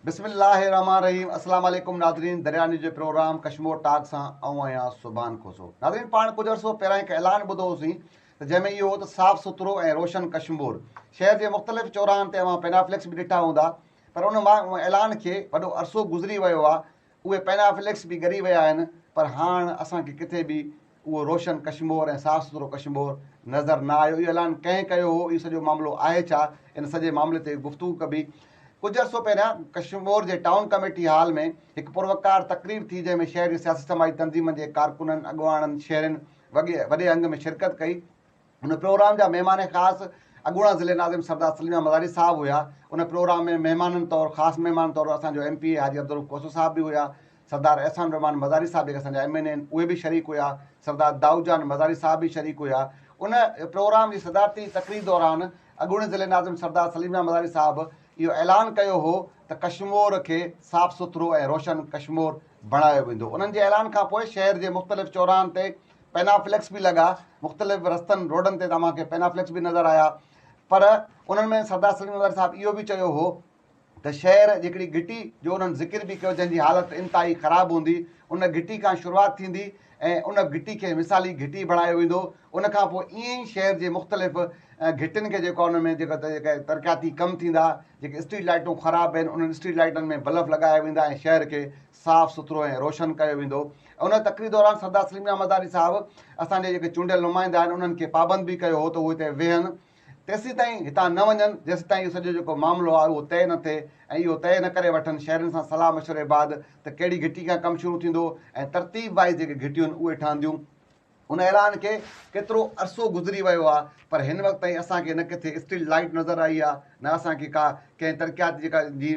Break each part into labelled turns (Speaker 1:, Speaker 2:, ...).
Speaker 1: بسم الله الرحمان الرحيم السلام عليڪم ناظرين دريا نيوز جي پروگرام ڪشمور ٽاڪ سان آئون آهيان سبحان کوسو ناظرين پاڻ ڪجهه عرصو پهريان هڪ اعلان ٻڌو هوسين ته جنهن ۾ اهو هو ته صاف سٿرو ۽ روشن ڪشمور شهر جي مختلف چوراهن تي اوهان پينافليڪس به ڏٺا هوندا پر ان اعلان کي وڏو عرصو گذري ويو آهي اهي پينافليڪس به ڳري ويا آهن پر هاڻ اسان کي ڪٿي به اهو روشن ڪشمور ۽ صاف سٿرو ڪشمور نظر نه آيو اهو اعلان ڪنهن ڪيو هو اهو سڄو معاملو آهي ڇا ان سڄي معاملي تي گفتگو ڪبي ڪجهه عرصو پهريان ڪشمور جي ٽائون ڪميٽي هال ۾ هڪ پروقار تقريب ٿي جنهن ۾ شهر جي سياسي سماجي تنظيمن جي ڪارڪنن اڳواڻن شهرين وڳي وڏي انگ ۾ شرڪت ڪئي ان پروگرام جا مهمان خاص اڳوڻا ضلعي ناظم سردار سليم احمد مزاري صاحب هيا ان پروگرام ۾ مهمانن طور خاص مهمان طور اسان جو M P A Haji Abdul Rauf Khoso صاحب به هيا سردار احسان الرحمان مزاري صاحب جيڪي اسان جا ايم اين اي آهن اهي به شريڪ هيا سردار دائود جان مزاري صاحب به شريڪ هيا ان پروگرام جي صدارتي تقرير دوران اڳوڻي ضلعي ناظم سردار سليم احمد مزاري صاحب اهو اعلان ڪيو هو ته ڪشمور کي صاف سٿرو ۽ روشن ڪشمور بڻايو ويندو انهن جي اعلان کانپوء شهر جي مختلف چوراهن تي پينافليڪس به لڳا مختلف رستن روڊن تي توهان کي پينافليڪس به نظر آيا پر انهن ۾ سردار سليم وزاري صاحب اهو به چيو هو ته شهر جهڪڙي گهٽي جو انهن ذڪر به ڪيو جنهن جي حالت انتهائي خراب هوندي ان گهٽي کان شروعات ٿيندي ۽ ان گهٽي کي مثالي گهٽي بڻايو ويندو ان کان پوء ائين ئي شهر جي مختلف گهٽين کي جيڪو ان ۾ جيڪا جيڪا ترقياتي ڪم ٿيندا جيڪي اسٽريٽ لائيٽون خراب آهن انهن اسٽريٽ لائيٽن ۾ بلف لڳايا ويندا ۽ شهر کي صاف سٿرو ۽ روشن ڪيو ويندو ۽ ان تقرير دوران سردار سليم ميان مزاري صاحب اسان جي جيڪي چونڊيل نمائندا آهن انهن کي پابند به ڪيو هو ته هو هتي ويهن تيسيتائين هتان نه وڃن جيسيتائين اهو سڄو جيڪو معاملو آهي اهو طئي نه ٿئي ۽ اهو طئي نه ڪري وٺن شهرين سان صلاح مشوري بعد ته ڪهڙي گهٽي کان ڪم شروع ٿيندو ۽ ترتيب وائيز جيڪي گهٽيون اهي ٺهنديون هن اعلان کي ڪيترو عرصو گذري ويو آهي پر هن وقت تائين اسان کي نه ڪٿي اسٽريٽ لائيٽ نظر آئي آهي نه اسان کي ڪا ڪنهن ترقياتي جيڪا جي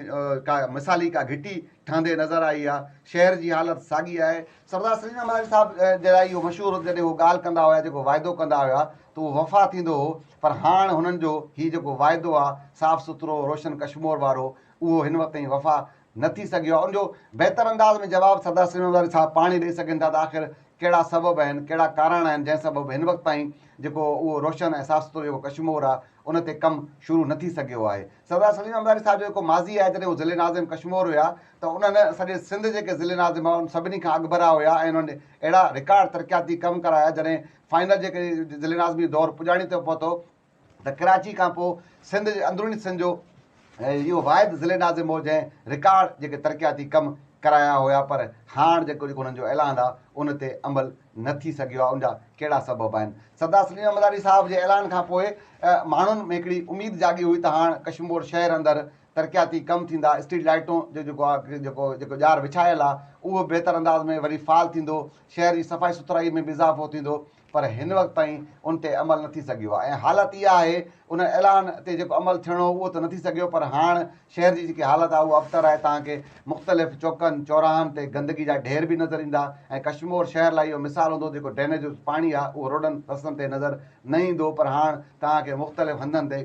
Speaker 1: ڪا مثالي ڪا گهٽي ٺهندي نظر آئي آهي شهر جي حالت ساڳي آهي سردار سليم احمد صاحب جي لاء اهو مشهور جڏهن هو ڳالهه ڪندا هيا جيڪو واعدو ڪندا هيا ته اهو وفا ٿيندو هو پر هاڻ هنن جو هي جيڪو واعدو آهي صاف سٿرو روشن ڪشمور وارو اهو هن وقت تائين وفا نه ٿي سگهيو آهي، ان جو بهتر انداز ۾ جواب سردار سليمان وزاري صاحب پاڻ ئي ڏئي سگهن ٿا ته آخر ڪهڙا سبب آهن، ڪهڙا ڪاراڻ آهن جنهن سبب هن وقت تائين جيڪو اهو روشن ۽ صاف سٿرو جيڪو ڪشمور آهي ان تي ڪم شروع نه ٿي سگهيو آهي. سردار سليمان وزاري صاحب جو جيڪو ماضي آهي جڏهن هو ضلعي ناظم ڪشمور هيا ته انهن سڄي سنڌ جيڪي ضلعي ناظم هئا ان سڀني کان اڳڀرا هيا ۽ انهن اهڙا رڪارڊ ترقياتي ڪم ڪرايا جڏهن فائنل جيڪي ضلعي ناظمي دور پڄاڻي تي پهتو ته ڪراچي کان پوء سنڌ جي اندروني سنڌ جو اهو واحد ضلعي ناظم هو جنهن رڪارڊ جيڪي ترقياتي ڪم ڪرايا هيا پر هاڻ جيڪو جيڪو انهن جو اعلان آ ان تي عمل نه ٿي سگهيو آ ان جا ڪهڙا سبب آهن سردار سليم احمد آري صاحب جي اعلان کان پوء ماڻهن ۾ هڪڙي اميد جاڳي هئي ته هاڻ ڪشمور شهر اندر ترقياتي ڪم ٿيندا اسٽريٽ لائيٽون جو جيڪو آ جيڪو جيڪو ڄار وڇايل آ اهو بهتر انداز ۾ وري فعال ٿيندو شهر جي صفائي سٿرائي ۾ به اضافو ٿيندو پر هن وقت تائين ان تي عمل نه ٿي سگهيو آهي ۽ حالت اها آهي ان اعلان تي جيڪو عمل ٿيڻو هو اهو ته نه ٿي سگهيو پر هاڻ شهر جي جيڪي حالت آهي اها ابتر آهي توهان کي مختلف چوڪن چوراهن تي گندگي جا ڍير به نظر ايندا ۽ ڪشمور شهر لاء اهو مثال هوندو جيڪو ڊرينيج جو پاڻي آهي اهو روڊن رستن تي نظر نه ايندو پر هاڻ توهان کي مختلف هنڌن تي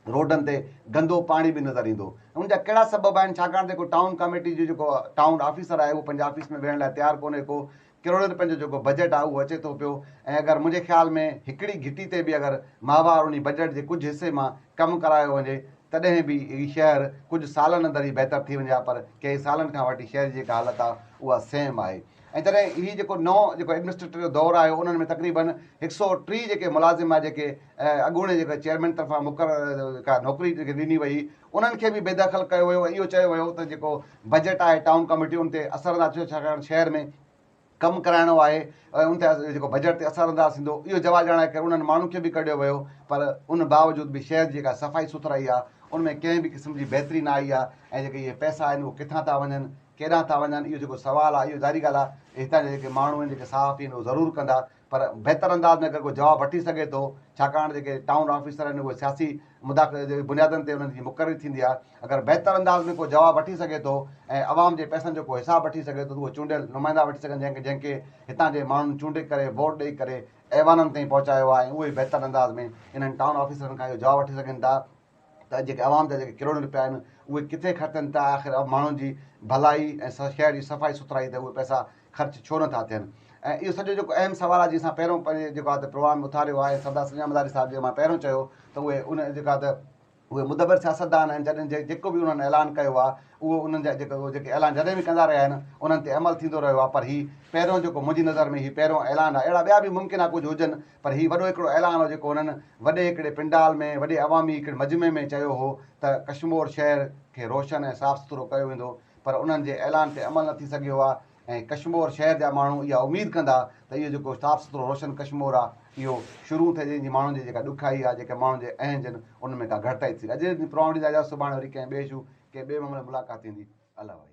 Speaker 1: روڊن تي گندو پاڻي به نظر ايندو ان جا ڪهڙا سبب آهن ڇاڪاڻ ته جيڪو ٽائون ڪاميٽي جو جيڪو ٽائون آفيسر آهي اهو پنهنجي آفيس ۾ ويهڻ لاء تيار ڪونهي ڪو ڪروڙين رپين جو جيڪو بجيٽ آ اهو اچي ٿو پيو ۽ اگر منهنجي خيال ۾ هڪڙي گهٽي تي به اگر ماهوار انهي بجيٽ جي ڪجهه حصي مان ڪم ڪرايو وڃي تڏهن به هي شهر ڪجهه سالن اندر ئي بهتر ٿي وڃي ها پر ڪئين سالن کان وٺي شهر جي جيڪا حالت آ اها سيم آهي ۽ جڏهن هي جيڪو نئون جيڪو ايڊمنسٽريٽر جو دور آيو انهن ۾ تقريبن هڪ سئو ٽي جيڪي ملازم آ جيڪي اڳوڻي جيڪي چيئرمين طرفان مقرر جيڪا نوڪري جيڪي ڏني وئي انهن کي به بيدخل ڪيو ويو ۽ اهو چيو ويو ته جيڪو بجيٽ آهي ٽائون ڪاميٽي ان تي اثر انداز ٿيندو ڇاڪاڻ شهر ۾ ڪم ڪرائڻو آهي ۽ ان تي جيڪو بجيٽ تي اثر انداز ٿيندو اهو جواز ڄاڻائي ڪري انهن ماڻهن کي به ڪڍيو ويو پر ان باوجود به شهر جي جيڪا صفائي سٿرائي آهي ان ۾ ڪنهن به قسم جي بهتري نه آئي آهي ۽ جيڪي اهي پئسا آهن اهو ڪٿان ٿا وڃن ڪيڏانهن ٿا وڃن اهو جيڪو سوال آهي اهو ظاهري ڳالهه آهي ته هتان جا جيڪي ماڻهو آهن جيڪي صحافي آهن اهو ضرور ڪندا پر بهتر انداز ۾ اگر ڪو جواب وٺي سگهي ٿو، ڇاڪاڻ جيڪي ٽائون آفيسر آهن اهي سياسي مداخلت جي بنيادن تي انهن جي مقرري ٿيندي آهي، اگر بهتر انداز ۾ ڪو جواب وٺي سگهي ٿو ۽ عوام جي پئسن جو ڪو حساب وٺي سگهي ٿو ته اهي چونڊيل نمائندا وٺي سگهن جنهن جنهن کي هتان جي ماڻهن چونڊي ڪري ووٽ ڏئي ڪري ايوانن تائين پهچايو آهي ۽ اهي بهتر انداز ۾ انهن ٽائون آفيسرن کان اهو جواب وٺي سگهن ٿا ته جيڪي عوام جا جيڪي ڪروڙين روپيا آهن اهي ڪٿي خرچن ٿا آخر ماڻهن جي ڀلائي ۽ شهر جي صفائي سٿرائي تي اهي پئسا خرچ ڇو نه ٿا ٿين ۽ اهو سڄو جيڪو اهم سوال آهي جي اسان پهريون پنهنجي جيڪو آهي ته پروگرام ۾ اٿاريو آهي سردار سڄڻ مزاري صاحب جي مان پهريون چيو ته اهي ان جيڪو آهي ته اهي مدبر سياستدان آهن جڏهن جيڪو به انهن اعلان ڪيو آهي اهو انهن جا جيڪو جيڪي اعلان جڏهن به ڪندا رهيا آهن انهن تي عمل ٿيندو رهيو آهي پر هي پهريون جيڪو منهنجي نظر ۾ هي پهريون اعلان آهي اهڙا ٻيا به ممڪن آهي ڪجهه هجن پر هي وڏو هڪڙو اعلان هو جيڪو هنن وڏي هڪڙي پنڊال ۾ وڏي عوامي هڪڙي مجمعي ۾ چيو هو ته ڪشمور شهر کي روشن ۽ صاف سٿرو ڪيو ويندو پر انهن جي اعلان تي عمل نه ٿي سگهيو آ ۽ ڪشمور شهر جا ماڻهو اها اميد ڪندا ته اهو جيڪو صاف سٿرو روشن ڪشمور آ اهو شرون ٿئي جنهن جي ماڻهن جي جيڪا ڏکيائي آ جيڪي ماڻهن جي اهنج ان ان ۾ ڪا گهٽتائي ٿي سگهي اڄ جي پروگرام ڏي اجازت سڀاڻي وري ڪنهن ٻئي شو ڪنهن ٻئي معاملي ۾ ملاقات ٿيندي الله وحيد.